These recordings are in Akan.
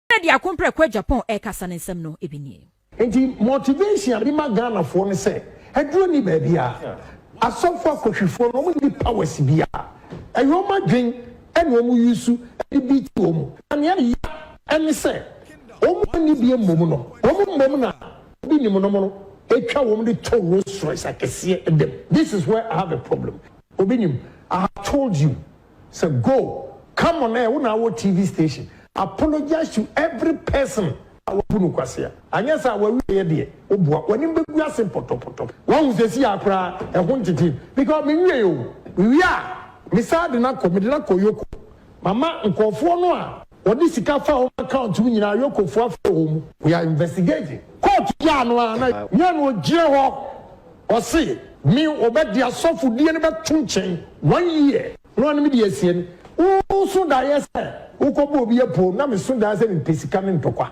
Ghana de ako mprɛko a Japan rekasa ne nsɛm no ebi nie. Enti motivation a mema Ghana foɔ ne sɛ aduro nni baabiara, asɔfoɔ akɔhwifoɔ no wɔn nni powers biara, ɛyɛ wɔn adwen na wɔn use de beat wɔn, na nea ɛya ɛne sɛ wɔn a wɔnni bie mmom no wɔn mmom na obi nim nom no ɛtwa wɔn de tɔ Rolls Royce akɛseɛ da mu, this is where I have a problem, obi nim, I have told you. Sɛ go come on air wo na awɔ TV station apologize to every person a wabu no kwasea anyɛ saa a wawieɛ deɛ wo boa w'anim bɛgu ase pɔtɔpɔtɔ wahu seesei ara koraa ɛho ntete me because me nwiee oo me wie a me saa de no akɔ mede no akɔ yoko mama nkurɔfoɔ no a wɔde sika faa wɔn account mu nyinaa yokofoɔ afrɛ wɔn mu we are investigating court gyaa no ara na nyɛ no ɔgyina hɔ Ɔse me ɔbɛde asɔfodie no bɛto nkyɛn one year na ɔne me de asie no wo so daeɛ sɛ wo kɔ bɔ obi apoo na me so daeɛ sɛ me pɛ sika ne ntɔkwa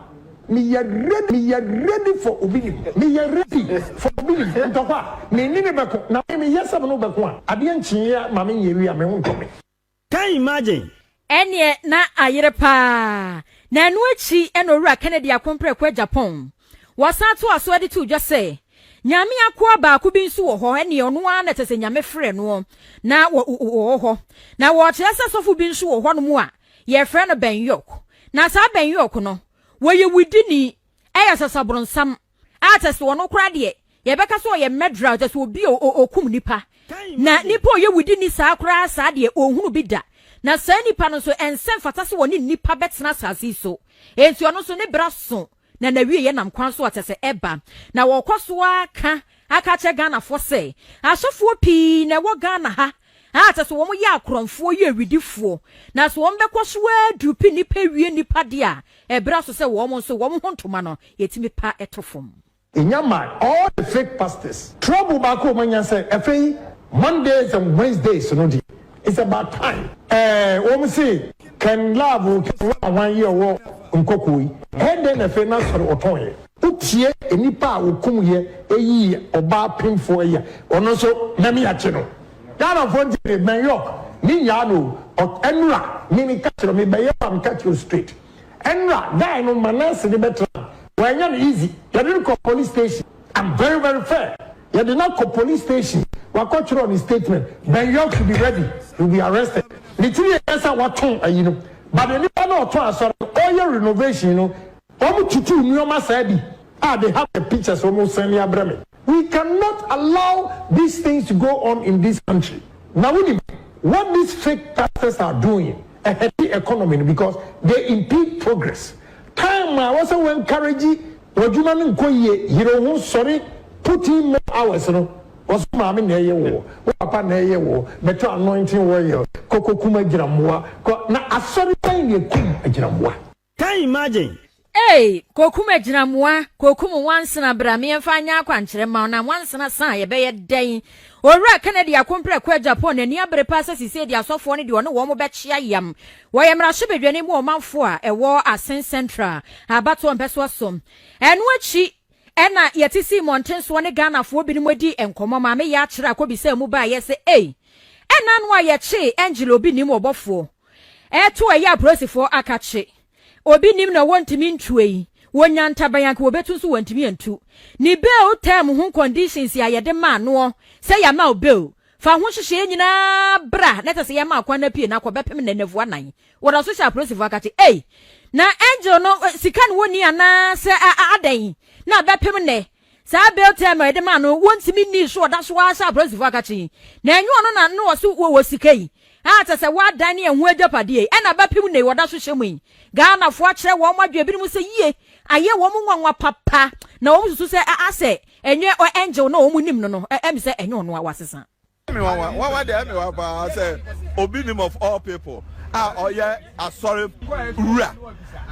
me yɛ ready me yɛ ready for obi nim me yɛ ready for obi nim ntɔkwa me ne no bɛko na me me yɛ sɛ me ne wo bɛko a adeɛ nkyeeɛ ma me nyɛ wie a me ho ntɔ me. Can you imagine? Ɛnneɛ na ayere paa. Na ɛno akyi na Owura Kennedy akompere kɔ Japan. Wɔsan toaa so de too dwa sɛ, Nyame akoa baako bi nso wɔ hɔ, ɛnneɛ ɔno ara na ɛsɛ sɛ Nyame frɛ noɔ na ɔwɔ hɔ. Na wɔkyerɛ sɛ sɔfo bi nso wɔ hɔnom a yɛfrɛ no Bɛn Yok. Na saa Bɛn Yok no, wɔyɛ wudini, ɛyɛ sasabronsamfo. a kyɛ sɛ ɔno koraa deɛ yɛbɛka sɛ ɔyɛ murderer kyɛ sɛ obi a ɔkum nipa na nipa ɔyɛ wudi ni saa koraa saa deɛ ɔnhunu bi da na saa nipa no nso ɛnsɛ mfata sɛ wɔne nipa bɛtena asase yi so enti ɔno nso ne bra so na nawie yɛ nam kwan so a kyɛ sɛ ɛba na wɔkɔ so aka aka kyɛ Ghanafoɔ sɛ asɔfoɔ pii na ɛwɔ Ghana ha a sɛ so wɔn yɛ akorɔmfoɔ yɛ awidifoɔ, na so wɔn bɛkɔ so ara duru pi nnipa wie nnipa deɛ a, ɛberɛ aso sɛ wɔn nso wɔn ho ntoma no yɛtumi pa to fam. Nya ma all the fake pastors. Trouble baako a wɔn anya sɛ ɛfei Mondays and Wednesdays no deɛ it's about time ɛɛ wɔn se Ken Love Ken Wah Wah yi a ɔwɔ Nkɔkɔɔ yi ɛɛ dɛn na ɛfei n'asɔre ɔtɔn yɛ. Wo tie nnipa a wɔkum yɛ ɛyii ɔbaa pemfoɔ yɛ ɔno nso nyame akye no. Ghana foɔ nti de mɛn york me nyaa no o ɔk ɛnora me me ka kyerɛ me bɛyɛ wo a me ka kyerɛ wo straight ɛnora guy no ma nurse no bɛ tra no wanyɛ no easy yɛde no kɔ police station am very very fair yɛde no akɔ police station wakɔ twerɛ ne statement mɛn york should be ready he will be arrested ne tiri yɛ sɛ watɔn ayi no but nipa no ɔtɔn asɔre no ɔyɛ renovation no. Ɔmo tutuu nnoɔma saa bi ah they have the pictures ɔmo send ya brɛ me. We cannot allow these things to go on in this country na wonim what these fake pastors are doing ɛhɛte economy no because they impede progress time a ɛwɔ sɛ wo encourage w'adwuma no nkɔ yie yere wo ho sɔre put in more hours no wɔ so maame na ɛyɛ woɔ wo papa na ɛyɛ woɔ bɛtɔ anointing oil kɔ kɔ kum agyinamoa kɔ na asɔre bɛn na ɛkum agyinamoa. Can imagine! Eei kokum agyinamoa kokum nwansena bra me yɛmfa nyɛ akwankyerɛ mma wo na nwansena sa a yɛbɛyɛ dɛn owura Kennedy akomprɛko a Japan n'ani abere paa sɛ sisei deɛ asɔfoɔ no deɛ ɔne wɔn bɛkyea yam wɔyɛ mmarahyɛ badwani mu ɔmanfoɔ a ɛwɔ Asen Central abatoɔ mpɛsoa so ɛno akyi ɛna yɛte sii mmɔntensoɔ ne Ghanafoɔ binom adi nkɔmmɔ maame Yakyera kɔbisaa mu baeɛ sɛ ei ɛna ano a yɛkyee Angela obi nim ɔbɔfoɔ ɛto ɛyɛ apolisifoɔ akakye obi nim na wɔntumi ntue yi wɔnya ntaban anka wɔbɛtu nso wɔntumi antu ne bail term ho conditions a yɛde maa noɔ sɛ yɛama wo bail fa ho nhyehyɛeɛ nyinaa bra na ɛsɛ sɛ yɛma akwan no apue na akɔ bɛpem na nnafua nan wɔda so hyɛ apolisifoɔ akakye ei na angel no sika no wɔni anaa sɛ adɛn na bɛpem nɛ Saa bail term a yɛde maa no wontumi nnii so ɔda so ara sɛ apolisifo aka kye yi. Na ɛnyɛ ɔno na na ɔse wɔwɔ sika yi a kyɛ sɛ wɔadan ne ɛho agyapadeɛ yi ɛna bɛpem nnɛ yi wɔda so hyɛ mu yi. Ghanafoɔ akyerɛ wɔn adwene binom sɛ yie ayɛ wɔn nwanwa papa na wɔn susu sɛ asɛ ɛnyɛ Angel na wɔn nim no no ɛm sɛ ɛnyɛ ɔno a wɔasesa. Me nwanwa nwanwa deɛ me wa paa sɛ obi nim of all people a ɔyɛ asɔre wura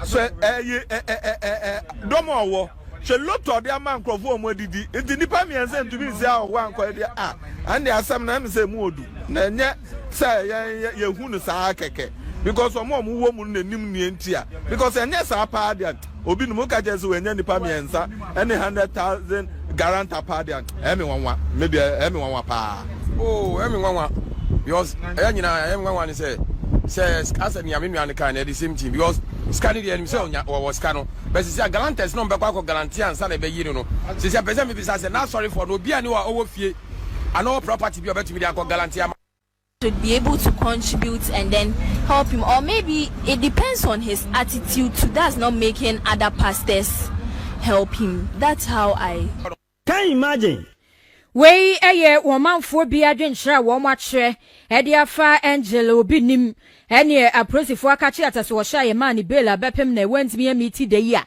sɛ ɛyi ɛ ɛ ɛ ɛ ɛ dɔm a ɔwɔ hwɛ lotɔ de ama nkurɔfoɔ a wɔn adidi nti nipa mmiɛnsa ntumi nsi a ɔwɔ ankɔyɛ deɛ a ɛnde asɛm na ɛmu sɛ mu odu na ɛnyɛ sɛ yɛn yɛhu no saa kɛkɛ because wɔn a wɔwɔ mu no na nim nea nti a because ɛnyɛ saa paa deɛ. Obi no mo ka kyerɛ sɛ wanya nipa mmiɛnsa ɛne hundred thousand guarantor paa deɛ ɛyɛ me nwanwa me deɛ ɛyɛ me nwanwa paa. Oo ɛyɛ me nwanwa because ɛyɛ nyinaa ɛyɛ me nwanwa ne sɛ sɛ asɛ nea me nua no kan na ɛde same thing because sika ne deɛ ɛnim sɛ ɔnya wɔwɔ sika no bɛ sisi a galanters na ɔmbɛkɔ akɔ galanteɛ ansa na ɛbɛyi no no sisi a pɛ sɛ mebisa sɛ n'asɔrefoɔ no obi a ne wɔ ɔwɔ fie anaa ɔwɔ property bi a ɔbɛtumi de akɔ galanteɛ ama should be able to contribute and then help him or maybe it depends on his attitude too that's not making other pastors help him that's how I Can you imagine? Wei yɛ wɔn manfoɔ bi adwenkyerɛ a wɔn akyerɛ de afa Angel obi nim ɛneɛ aporisifo aka kye atasoɔhyɛ a yɛmaa no bail a bɛpem na wantumi amiti da yi a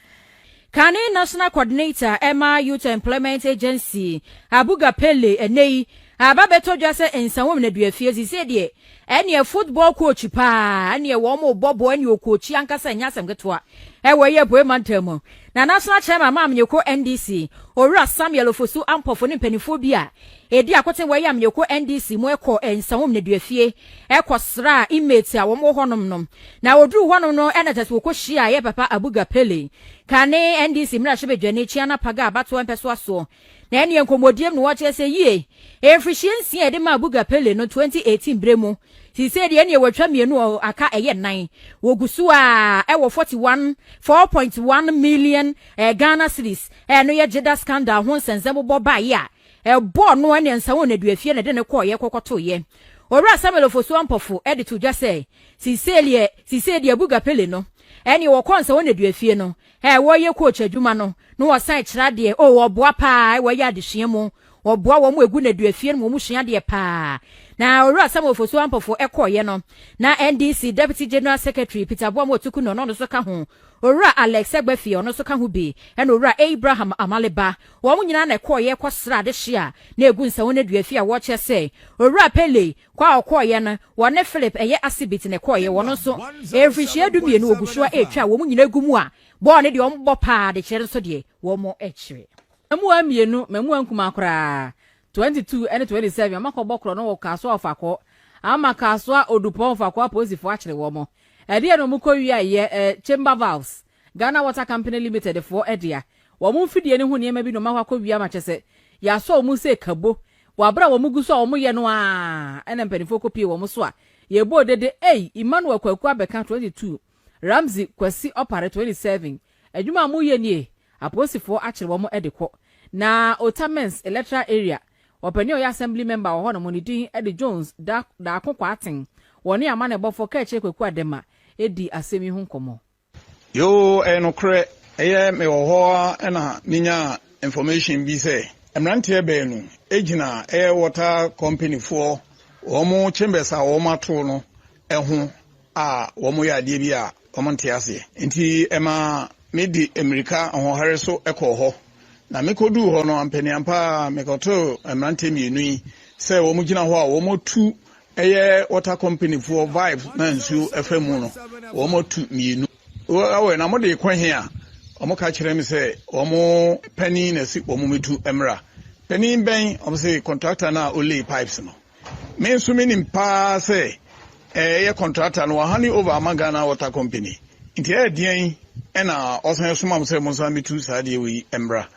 Kane National Coordinator ma Youth Employment Agency, Abuga Pele, Ɛnnɛ yi, aba bɛtɔ dwa sɛ Nsawam Nnaduafie, seesei deɛ, ɛneɛ football coach paa, ɛneɛ wɔn rebɔ bɔɔl, ɛneɛ ɔkoochi ankasa, ɛnyɛ asɛm ketewa, ɛwɔ ɛyi Apueɛ Mantam mu. Na National Chairman ma Amanyɔkuo NDC, Owura Samuel Ofosu Ampofo ne mpanimfoɔ bi a Edi akoten wɔ Eyam Yeko NDC mu kɔ Nsawom nneduafie kɔ sraa inmates a wɔn wɔ hɔ nom nom. Na oduruu hɔ nom no na just wɔkɔ hyiaa yɛ papa Abuga Pele ka ne NDC mmarahyɛbadwani Kyiana Paga abatoɔ mpɛsoa soɔ. Na ɛneɛ nkɔmmɔdiem no wɔkyerɛ sɛ yie mfirihyia nsia a yɛde maa Abuga Pele no 2018 berɛ mu seisei deɛ ɛneɛ watwa mmienu aka ɛyɛ nnan. Wɔgu so ara wɔ 41 4.1 million Ghana cedis no yɛ Jeddah scandal ho nsɛnsɛm bobɔ baeɛ a Ɛbɔ ɔno ne Ansanwo Nnaduafie na ɛde no kɔeɛ kɔkɔtoeɛ. Owura Samuel Ofosu Ampofo de to dwa sɛ, Seiseideɛ seiseideɛ Abuga Pele no ɛneɛ wɔkɔ Ansanwo Nnaduafie no ɛɛ wɔyɛ coach adwuma no na wɔsan ɛkyerɛ adeɛ oo wɔboa paa ɛɛ wɔyɛ adesua mu wɔboa wɔn a ɛgu nnaduafie no mu wɔn sua adeɛ paa na Owura Samuel Ofosu Ampofo ɛkɔeɛ no na NDC Deputy General Secretary Peter Boamoa Otuku na ɔno nso ka ho Owura Alex Egbafie, ɔno nso ka ho bi, ɛna Owura Abraham Amale Ba. Wɔn nyinaa na ɛkɔeɛ kɔsraa adehye a na ɛgu Nsawonnadua-fie a wɔkyerɛ sɛ Owura Pele kɔ a ɔkɔeɛ no, wɔne Philip ɛyɛ Asibit na ɛkɔeɛ. Wɔn nso, ɛyɛ mfirinhyia dumienu, wɔgu so ara retwa a wɔn nyinaa gu mu a bɔɔl no deɛ wɔbɔ pa ara de kyerɛ nso deɛ wɔkyerɛ. Mmamuwaa mmienu, mmamuwaa nkumaa koraa, Twenty two ɛne twenty seven ɔmo akɔ bɔ korɔ no wɔ Kasoa ɔfakɔ ama Kasoa Odupɔn ɔfakɔ apolisifo akyere wɔmo ɛdeɛ na ɔmo kɔ wia yɛ ɛ Chamber Valves Ghana Water Company Limited foɔ ɛdea wɔmo mfidie no ho nneɛma bi na ɔmo akɔ akɔ wia ma kyɛsɛ yasɔ ɔmo sɛ kabo wɔ abere a wɔmo gu so a wɔmo yɛ no aa ɛna mpaninfoɔ kɔ pie wɔmo so a yɛbɔ dede ei Emmanuel Kwaku abɛka twenty two Ramsey Kwasi Opare 27 Adwuma a moyɛ nie Apolisifoɔ akyere wɔn de kɔ Na Otamens electoral area Ɔpanin a ɔyɛ assembly member wɔ hɔnom ne din de Jones Da Daako Kwarteng Wɔne amanneɛbɔfoɔ Kɛkyerɛ Kwaku Adema dii asɛm yi ho nkɔmmɔ. Yoo ɛyɛ nokorɛ, ɛyɛ me wɔ hɔ ara na me nyaa information bi sɛ mmeranteɛ baanu gyina ɛyɛ water company foɔ wɔn chambers a wɔn ato no ho a wɔyɛ adeɛ bi a wɔnte aseɛ. Enti ɛmaa medi mmirika ahoɔhare so kɔɔ hɔ, na mekɔduu hɔ no, ampaniampa ara mekɔtoo mmeranteɛ mmienu yi sɛ wɔgyina hɔ a wɔatu, ɛyɛ water companyfoɔ valve no a nsuo fa mu no, wɔatu mmienu. Wɔwɛ na mode kɔ he a? Wɔka kyerɛɛ me sɛ wɔn panin na si wɔn metu mmra. Panin bɛn? Wɔse contractor no a ɔlay pipes no. Me nso me nim paa sɛ ɛyɛ kɔntrata no wɔha ne over ama Ghana Water Company nti ɛyɛ deɛn ɛna ɔsan soma mo sɛ mo nsa metu saa deɛ wei mmra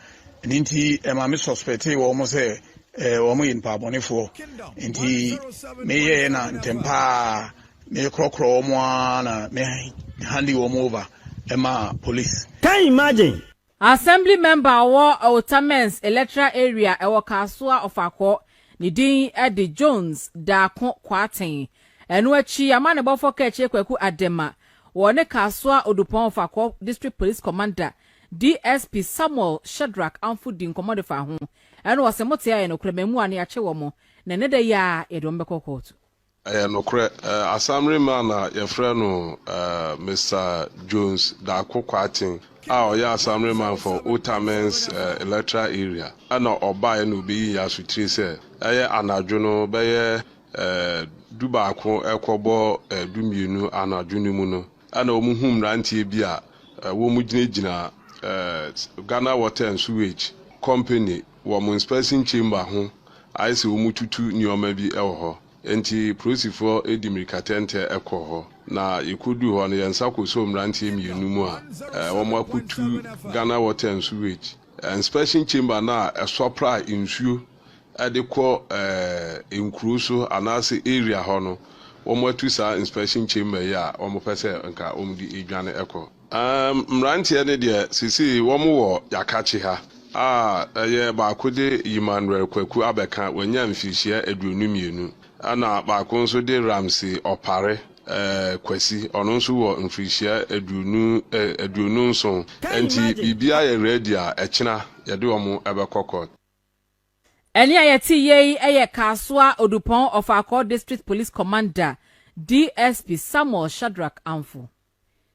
ɛno nti ɛma me suspectee wɔ mo sɛ wɔn yɛ nipa abɔnefoɔ nti meyɛɛ na ntɛm paa mekorɔkorɔ wɔn a na me handi wɔn over ɛma police. Can you imagine? Assembly member a ɔwɔ Otamens electoral area ɛwɔ Kasoa Ɔfakɔ ne din de Jones Daako Kwarteng. Ɛno akyi yɛama ne bɔfɔ Kakyire Kwaku Adema wɔ ne Kasoa Odupɔn Ɔfakɔ District Police Commander DSP Samuel Shadrack Amfo di nkɔmmɔ de fa ho. Ɛna ɔse mote a ɛyɛ nokorɛ, mmaamua no yɛakye wɔn na ɛnɛ da yi ara yɛde wɔn bɛkɔ kɔɔto. Ɛyɛ nokorɛ. Asamre man na yɛfrɛ no Mister Jones Darko Kwarteng a ɔyɛ Asamre man for Otamens electoral area ɛna ɔbaeɛ na obi yii asotire sɛ ɛyɛ anadwo no bɛyɛ du baako ɛkɔbɔ du mmienu anadwo no mu no ɛna wɔn hu mmeranteɛ bi a wɔn gyina gyina Ghana Water and Sewage Company wɔ wɔn inspection chamber ho ayɛ sɛ wɔretutu nneɛma bi wɔ hɔ. Enti polisifoɔ de mmirikatɛntɛ kɔɔ hɔ, na yɛkɔduu hɔ no, yɛn nsa kɔsɔɔ mmeranteɛ mmienu mu a wɔakɔtu Ghana Water and Sewage inspection chamber no a ɛsɔpra nsuo de kɔ nkuro so anaasɛ area hɔ no, wɔatu saa inspection chamber yi a wɔpɛ sɛ nka wɔde dwane kɔ. Aah mmeranteɛ no deɛ sesei wɔn wɔ Yakakye ha a ɛyɛ baako de Yimanrel Kwaku abɛka wanya mfirihyia aduonu mmienu ɛna baako nso de Ramsey Opare eh Kwasi ɔno nso wɔ mfirihyia aduonu eh aduonu nson ɛnti biribiara yɛ ready a ɛkyena yɛde wɔn ɛbɛkɔ court. Ɛnne a yɛte yɛ yi yɛ Kasoa Odupɔn Ɔfaakɔɔ District Police Commander DSP Samuel Shadrack Amfo.